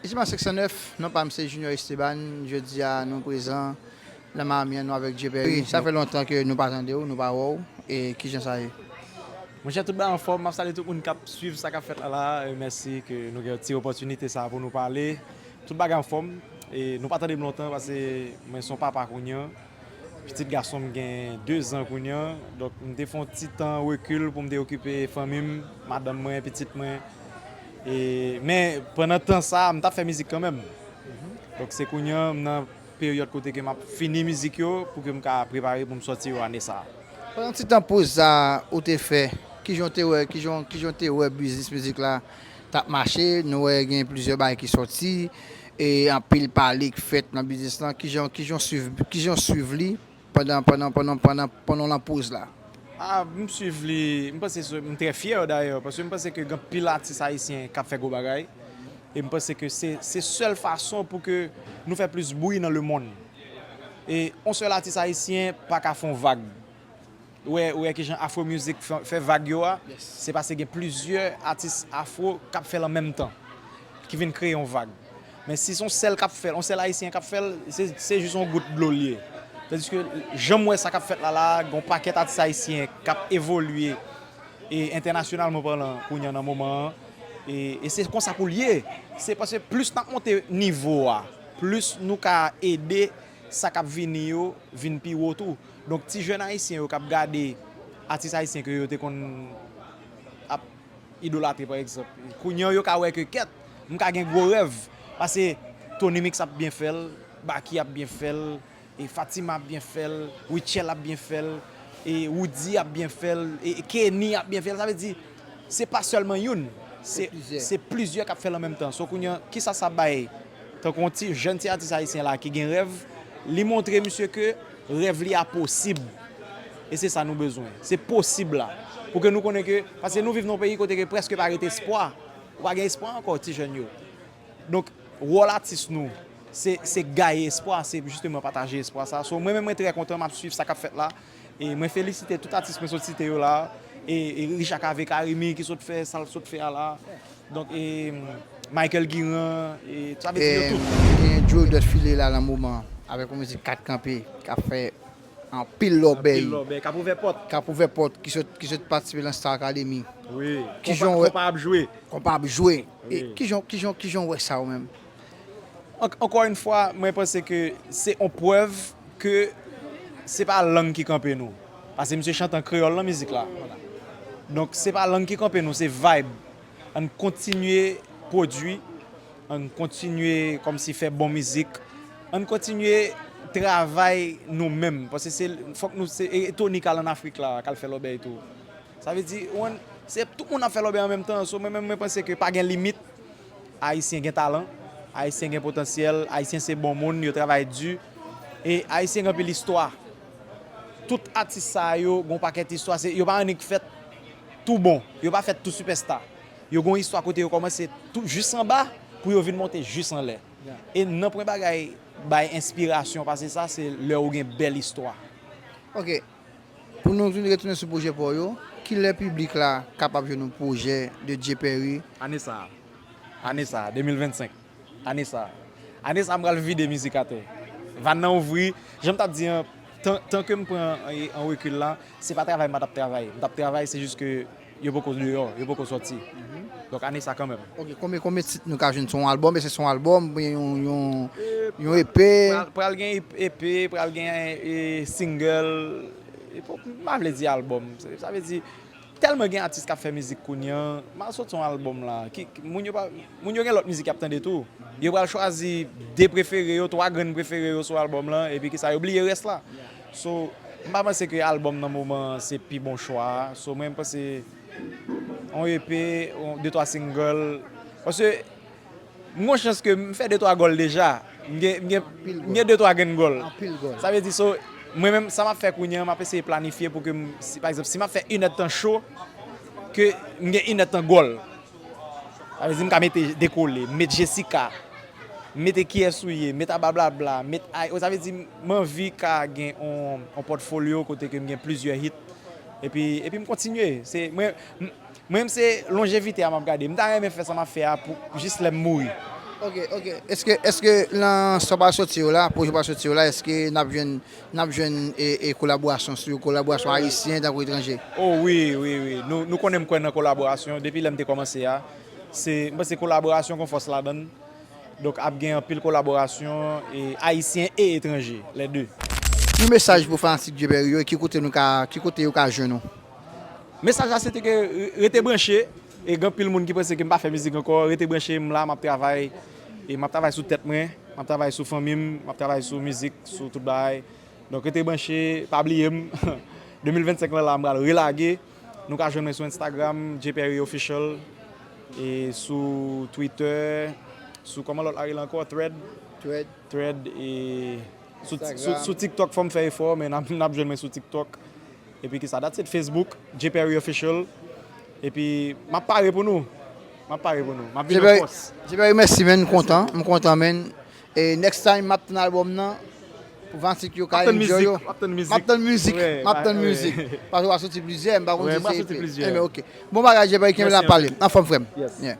Ici pas 509 non pam se Junior Esteban jodi a nou prezan nan Miami an nou avèk Dye Pèri sa fè lontan ke nou pa tandew nou pa wèw e kijan sa ye. Monchè tout bagay anfòm, map salye tout moun kap swiv sa kap fèt la la, mèsi ke nou gen ti opòtinite sa pou nou pale, tout bagay anfòm, nou pa tandem lontan pase mwen son papa kounye an. Pitit gason m gen dezan kounye an, donk m te fè yon ti tan rekil pou m te okipe fanmi m, madanm mwen, pitit mwen. E, men, pandan tan sa a, m t ap fè mizik kanmenm. Donk se kounye an, m nan peryòd kote ke m ap fini mizik yo pou ke m ka prepare pou m sòti yo ane sa a. Pandan ti tan poz sa a ou te fè, ki jan w te wè, ki jan w te wè biznis mizik la? tap mache nou wè gen plizyè bagay ki sòti e anpil pale k fèt nan biznis lan kijan kijan swiv kijan w swiv li pandan pandan pandan pandan pandan w lan poz la. A m swiv li m panse se m trè fyè dayè paske m panse ke gen anpil atis ayisyen kap fè gwo bagay e m panse ke se se sèl fason pou ke nou fè plis bri nan lemonn e on sèl atis ayisyen paka fon vag. Ou wè kijan afro music fè vag yo a, se pase gen plizyè atis afro kap fèl an menm tan ki vin kreye yon vag. Men si son sèl kap fèl, yon sèl ayisyen kap fèl, se jis yon gout dlo li ye. Tandiske janm wè sa kap fèt la la a, gon pakèt atis ayisyen kap evolye e entènasyonalman palan kounya nan moman an e se konsa poul ye. Se pase plis nap monte nivo a, plis nou ka ede. sa kap vini yo vin pi wo tou. Donk ti jèn ayisyen yo kap gade atis ayisyen ke yo te konn ap idolatre pa egzanp, kounye yo ka wè ke kèt m ka gen gwo rèv pase Tony Mix ap byen fè l, Baky ap byen fè l, e Fatima ap byen fè l, Rutshelle ap byen fè l, e Roody ap byen fè l, e Kenny ap byen fè l, sa vle di. Se pa sèlman youn, se plizyè k ap fè l an menm tan. So kounye an, kisa sa bay tankou yon ti jèn ti atis ayisyen la ki gen rèv, li montre misye ke rèv li a posib. E se sa nou bezwen. Se posib la. Pou ke nou konnen ke, paske nou viv nan yon peyi kote ke prèske pa rete espwa. Ou pa gen espwa ankò ti jèn yo. Donk, wòl atis nou, se gaye espwa, se jisteman pataje espwa sa. So mwen menm mwen trè kontan, m ap swiv sa k ap fèt la. E mwen felisite tout atis mwen sot site yo la a, e Richa Cave Carimi ki sot fè sa l sot fè a la a, donk e Michael Guirand, e sa vle di yo tout. E genyen Joe Dot Philly la nan moman an, avèk yon mizik 4 kanpe k ap fè anpil lòbèy. Anpil lòbèy, k ap ouvè pòt. K ap ouvè pòt, ki sot ki sot patisipe nan Star Academy. Wi, konpa ap jwe. Konpa ap jwe. E kijan w kijan w kijan w wè sa ou menm? Ankò yn fwa mwen panse ke se yon prèv ke se pa lang ki kanpe nou pase misye chante an kreyòl nan mizik la donk se pa lang ki kanpe nou se vayb ann kontinye pwodui ann kontinye kòmsi fè bon mizik ann kontinye travay nou menm pase se fòk nou se e toni kal ann afrik la kal fè lòbèy tou sa vle di ou konn se tout moun ap fè lòbèy an menm tan so mwen menm mwen panse ke pa gen limit. Ayisyen gen talan, Ayisyen gen potansyèl, Ayisyen se bon moun, yo travay di, e Ayisyen gen anpil istwa. Tout atis sa yo gen yon pakèt istwa, se yo pa annik fèt tou bon, yo pa fèt tou sipèsta. Yo gen yon istwa kote yo kòmanse tou jis anba pou yo vin monte jis anlè. E nan pwen bagay bay enspirasyon pase sa, se lè ou gen bèl istwa. Ok. Pou nou vin retounen sou pwojè pò yo, kilè piblik la kapab jwenn yon pwojè de Dye Pèri? Ane sa a, ane sa a, 2025, ane sa a, ane sa a m pral vide mizik atè. Vàn nan ouvri, jan m t ap di an, tan ke m pran an rekil la, se pa travay m pa t ap travay, m t ap travay se jis ke Yo poko deyò, yo poko sòti. Donk ane sa kanmenm. Ok, konbyen konbyen tit nou ka jwenn sou yon albòm? Èske se sou yon albòm oubyen yon EP? Pral gen EP, pral gen single, m pa vle di albòm. Sa vle di, tèlman gen atis k ap fè mizik kounye an, m a sòti yon albòm la. Moun yo gen lòt mizik y ap tande tou. Yo pral chwazi de prefere yo, twa grenn prefere yo sou albòm lan epi ki sa yo bliye rès la. So m pa panse ke album nan moman an se pi bon chwa a. So mwen panse yon EP, de twa single. Paske m gen yon chans ke m fè de twa gòl deja. M gen de twa grenn gòl. Sa vle di so mwen menm sa m ap fè kounye an m ap eseye planifye pou ke m, si pa egzanp si m ap fè inèdtan cho, ke m gen inèdtan gòl. Sa vle di m ka mete dekole, m met Jessica, m mete kiyès ou ye, m met ablablabla, m met ay o. Sa vle di m anvi ka gen yon pòtfolyo kote ke m gen plizyè hit epi m kontinye. Mwen menm se lonjevite a m ap gade. M ta renmen fè sa m ap fè a pou jis lè m mouri. Ok, ok. Eske nan sa w pral soti yo la, pwojè w pral soti yo la, eske n ap jwenn N ap jwenn kolaborasyon sou kolaborasyon ayisyen tankou etranje. O wi, wi, wi. Nou konnen m kwè nan kolaborasyon. Depi lè m te kòmanse a, se, m panse kolaborasyon gon fòs ladan l. Donk ap gen anpil kolaborasyon ayisyen e etranje, lè de. Yon mesaj pou fanatik Dyeuperi yo e ki kote nou ka, ki kote yo ka jwenn ou? Mesaj la se te ke rete branche. E gen anpil moun ki panse ke m pa fè mizik ankò, rete branche, m la, m ap travay, e m ap travay sou tèt mwen, m ap travay sou fanmi m, m ap travay sou mizik, sou tout bagay. Donk rete branche, pa bliye m, 2025 lan la m pral relage, nou ka jwenn mwen sou Instagram, Jperry Official, e sou Twitter, sou kòman lòt la rele ankò, Thread? Thread, e sou TikTok fò m fè efò, men n ap jwenn mwen sou TikTok. Epi kisa dat se t Facebook Jperry official epi map pare pou nou map pare pou nou map vin an fòs. Jperry mèsi menn m kontan m kontan menn e next time map tann album nan pou fanatik yo ka enjoy yo map tann mizik map tann mizik map tann mizik paske wap soti plizyè m pa konn si se ep enben ok bon bagay Jperry kenbe la pale anfòm frèm yeah.